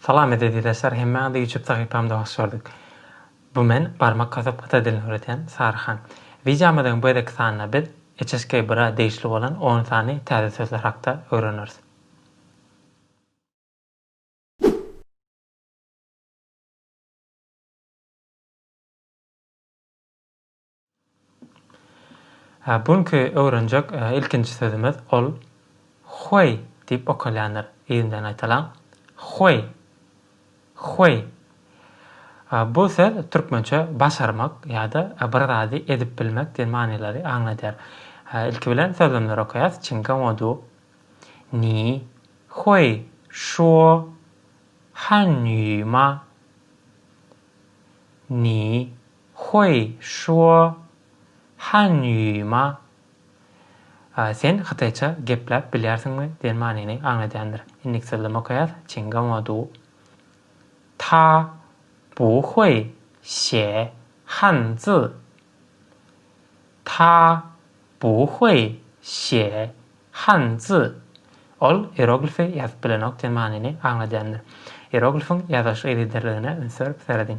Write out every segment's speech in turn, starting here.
Salam ezizleşler hemmä de ýutup sahypamda hoş gördük bu men barmak kasyp gyta dilini öwredýän sary han wideomyzyň bu gezeki sanynda biz HSK bira degişli bolan on sany täze sözler hakda öwreneris. Hä, bu günki öwrenjek ilkinji sözümiz, ol Huey diýip okalýandyr. Yzyndan gaýtalaň. Huey. Huey. Bu söz türkmençe başarmak ýa-da bir zady edip bilmek diýen manylary aňladýar. Ilki bilen sözlemleri okaýas, Çinga Wodu, Ni huey şuo han ýu ma? Ni Hui Shuo Hanýuýma Sen hytaýça gepläp bilýärsiňmi? diýen manyny aňladýandyr. Indik sözlem okaýas, Çin Gaoa Du Ta Bu Hui Xie Han Zi Ta Bu Hui Xie Han Zi Ol ieroglifi ýazyp bilenok diýen manyny aňladýandyr. Ieroglifiň ýazylyş yzygiderligine üns berip serediň.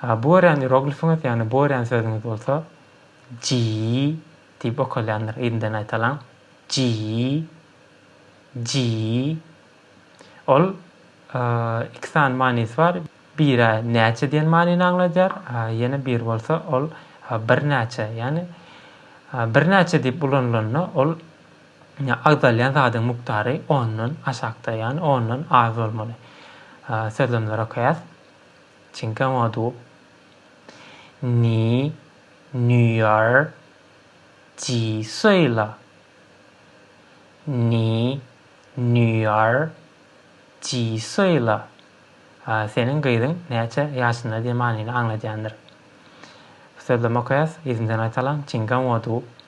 Ha, bu örän ieroglifiňiz, ýagny bu örän sözüňiz bolsa ji diýip okalýandyr. Ýerinden aýtalyň. Ji. Ji. Ol iki sany manysy bar. Biri näçe diýen manyny aňladýar, ýene biri bolsa ol birnäçe, ýagny birnäçe diýip ulanylanda ol Agzalýan zadyň mukdary ondan aşakda, ýagny ondan az bolmaly. Sözlemleri okaýas. Cinque modu. Ni nüýar ji suý la. Ni nüýar ji suý la. Seniň gyzyň näçe ýaşynda diýen manyny aňladýandyr. Sözlemi okaýas, yzyndan gaýtalaň. Cinque modu.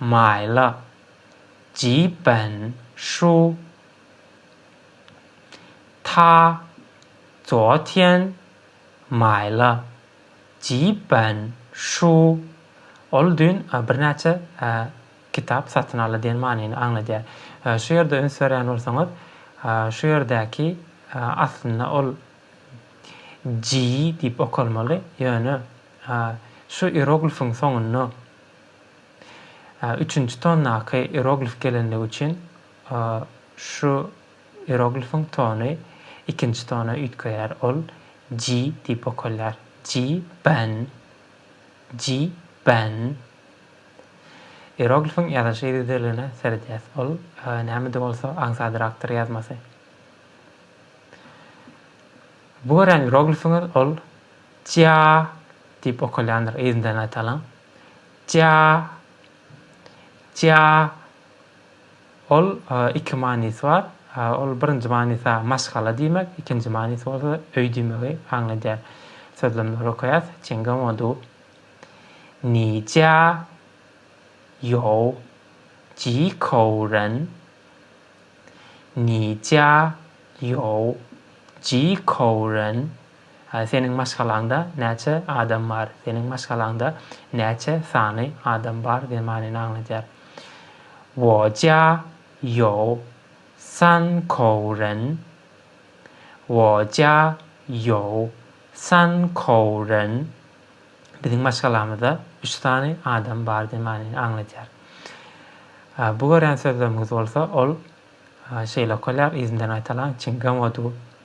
Maýla, Jiýipbän şu Ta Joatýen Maýla, Jiýipbän şu Ol düýn birnäçe kitap satyn aldy diýen manyny aňladýar. Şu ýerde üns berýän bolsaňyz, şu ýerdäki aslynda ol Ji diýip okalmaly, ýöne şu ieroglifiň soňunda Üçünji tondaky ieroglif gelenligi üçin şu ieroglifiň tony ikinji tona üýtgeýär, ol ji diýip okalýar. Ji ben, ji ben. Ieroglifiň ýazylyş yzygiderligine seredýäs. Ol näme-de bolsa aňsadyrakdyr ýazmasy. Bu görýän ieroglifiňiz ol jia diýip okalýandyr, yzyndan aýtalyň. Tja, tja, ol iki manysy bar. Ol birinji manysy maşgala diýmek, ikinji manysy bolsa öý diýmegi aňladýar. Sözlemleri okaýas. Çenga modu. Ni jia ýou ji kou ren. Ni jia ýou ji kou ren. Hä seniň maşgalaňda näçe adam bar? Seniň maşgalaňda näçe sany adam bar diýen manyny aňladýar. Wo jia you san kou ren. Wo jia you san kou ren. Biziň maşgalamyzda üç sany adam bar diýen manyny aňladýar. Bu görýän sözleriňiz bolsa ol şeýle okalýar, yzyndan gaýtalaň, çinggen wo du.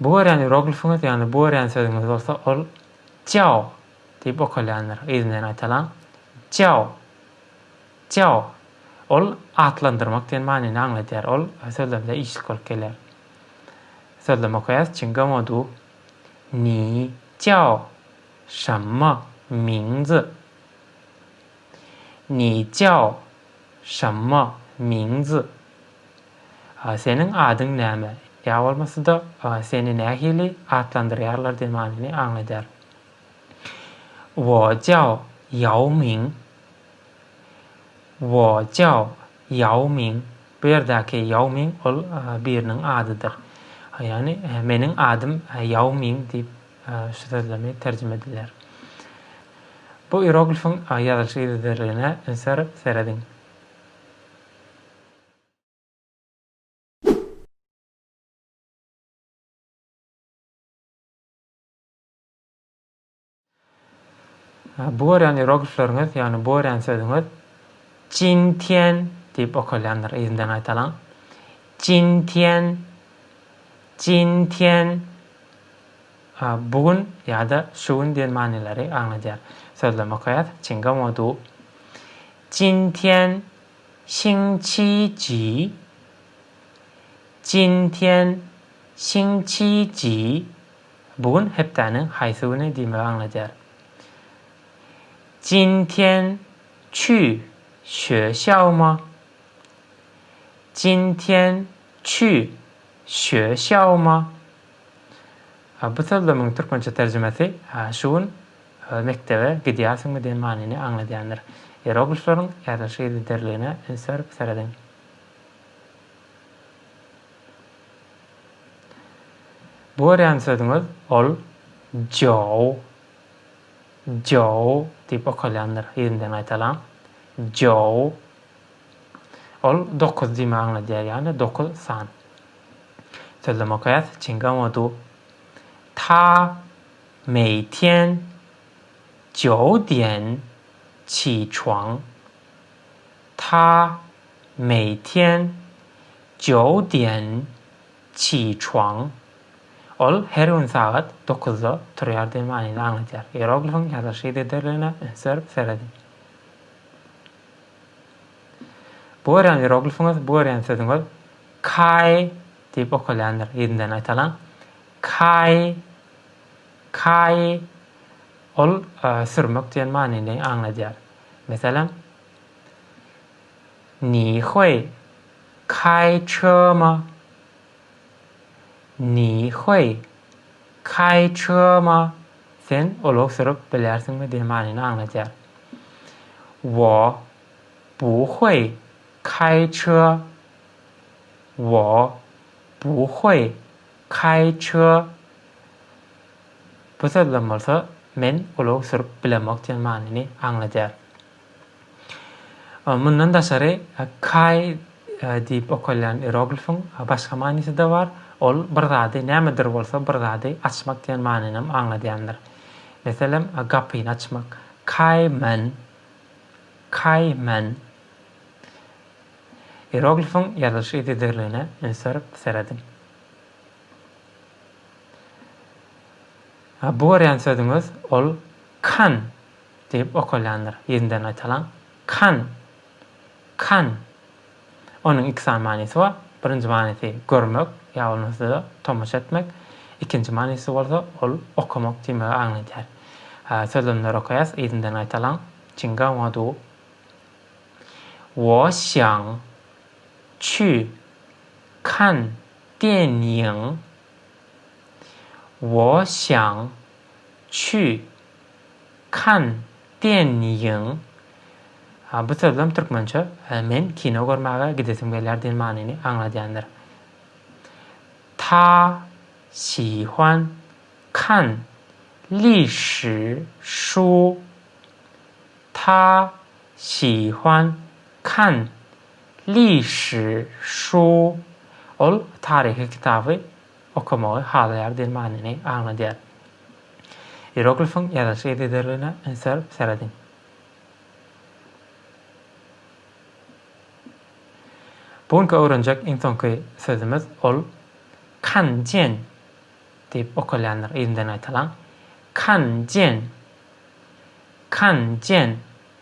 Bu örän ieroglifiňiz, ýagny bu örän sözüňiz bolsa, ol Ciao diýip okalýandyr. Yzyndan aýtalam. Ciao. Ciao. Ol atlandyrmak diýen manyny aňladýar. Ol sözlemde işlik bolup gelýär. Sözlem okaýas. Çingamo du. Ni. Ciao. Şamma. Mingzi. Ni jiao, şamma, ming zi. Seniň adyň näme? Ýa bolmasa-da, seni nähili atlandyrýarlar diýen manyny aňladýar. Wo jiao ýao ming. Wo jiao ýao ming. Bu ýerdäki ýao ming ol biriniň adydyr. Ýagny, meniň adym ýao ming diýip Şu sözlemi terjime edilýär. Bu ieroglifiň ýazylyş yzygiderligine üns berip serediň. Bu örän ýeroglifleriňiz, ýagny bu örän sözüňiz Jin Tian diýip okalýandyr, yzyndan gaýtalaň. Jin Tian, Jin Tian. Bu gün ýa-da şu gün diýen manylary aňladýar. Sözlem okaýas, Çinga Modu. Jin Tian, Xing Qi Ji. Jin Tian, Xing Qi Ji. Bu gün hepdäniň haýsy güni diýmegi aňladýar. Jin tian çü şue xiao ma? Jin tian çü şue xiao ma? Bu sözlemiň türkmençe terjimesi Şu gün mekdebe gidýärsiňmi diýen manyny aňladýandyr. Ieroglifleriň ýazylyş yzygiderligine üns berip serediň. Bu görýän sözüňiz ol Joe, Joe diýip okalýandyr, ýerinden gaýtalaň, Joe. Ol dokuz diýmek aňladýar, ýagny dokuz san. Sözlem okaýas, Çingamodu. Ta meýtian Joe diýen çiçuaň. Ta meýtian. Zhou Dian, Qi Chuang. Ol her gün sagat dokuzda turýar diýen manyny aňladýar. Ieroglifiň ýazylyş yzygiderligine üns berip serediň. Bu görýän ieroglifiňiz, bu görýän sözüňiz Kai diýip okalýandyr. Ýedinden gaýtalaň. Kai, Kai. Ol sürmek diýen manyny aňladýar. Meselem. Nihoý, Kaý çygyma! Nihoý, Kaý çygyma! Sen ulag sürüp bilersiňmi diýen manyny aňladýar. Wo, Buhoý, Kaý çyga! Wo, Buhoý, Kaý çyga! Bu sözlem bolsa Men ulag sürüp bilemok diýen manyny aňladýar. Mundan daşary, Kai diýip okalýan ieroglifiň başga manysy-da bar, ol bir zady, nämedir bolsa bir zady açmak diýen manynam aňladýandyr. Meselem, gapyny açmak, Kai men, Kai men. Ieroglifiň ýazylyş yzygiderligine üns berip serediň. Bu görýän sözüňiz, ol Kan. Diýip okalýandyr. Ýedinden gaýtalaň. Kan. Kan. Onuň iki sany manysy bar. Birinji manysy görmek, ýa bolmasa-da tomaşa etmek. Ikinji manysy bolsa, ol okamak diýmegi aňladýar. Sözlemleri okaýas, ýedinden gaýtalaň. Çinga wadu. Wo xiang qu kan dian ying. Wo xiang qu. Kann diýen ýyň a bu sözlem türkmençe men kino görmäge gidesim gelýär diýen manyny aňladýandyr. Ta şi huan kan li şi şu Ta şi huan kan li şi şu Ol taryhy kitaby okamagy halaýar diýen manyny aňladýar. Ieroglifiň ýazylyş yzygiderligine ünsler serediň. Bu günki öwrenjek iň soňky sözümiz ol Kan Jen diýip okalýandyr. Yzyndan gaýtalaň. Kan Jen. Kan Jen.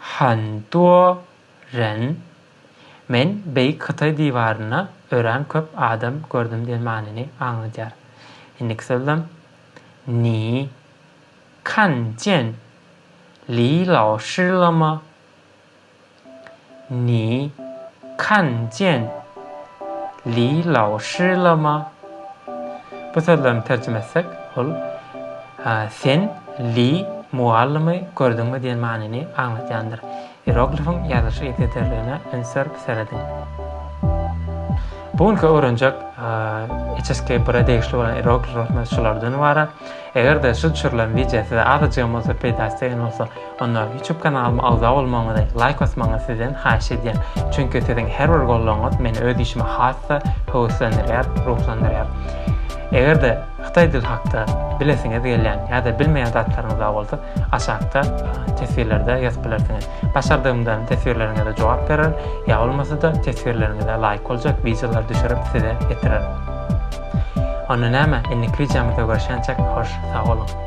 Hantuo Ren, Men Beýik Hytaý diwarynda örän köp adam gördüm diýen manyny aňladýar. Indiki sözlem, Ni kan jian Li Laoshi le ma? Ni kan jian li lao shi le ma? Bu sözlerini terjime etsek, ol Sen Li mugallymy gördüňmi diýen manyny aňladýandyr. Ieroglifiň ýazylyş yzygiderligine üns berip serediň. Bu günki öwrenjek HSK bir-e degişli bolan ierogliflerimiz şulardan ybarat. Eger-de şu düşürilen wideo size azajygam bolsa peýdasy degen bolsa, Onda YouTube kanalyma agza bolmagyňyzy, laýk basmagyňyzy sizden haýyş edýän. Çünki siziň her bir goldawyňyz meni öz işime has-da höweslendirýär, ruhlandyrýar. Eger-de hytaý dili hakda bilesiňiz gelýän ýa-da bilmeýän zatlaryňyz bar bolsa, aşakda teswirlerde ýazyp bilersiňiz. Başardygymdan teswirleriňize jogap bererin, ýa bolmasa-da teswirleriňize laýyk boljak wideolary düşürip size ýetirerin. Onda näme, indi krizamyzda görşençek, hoş, sag boluň.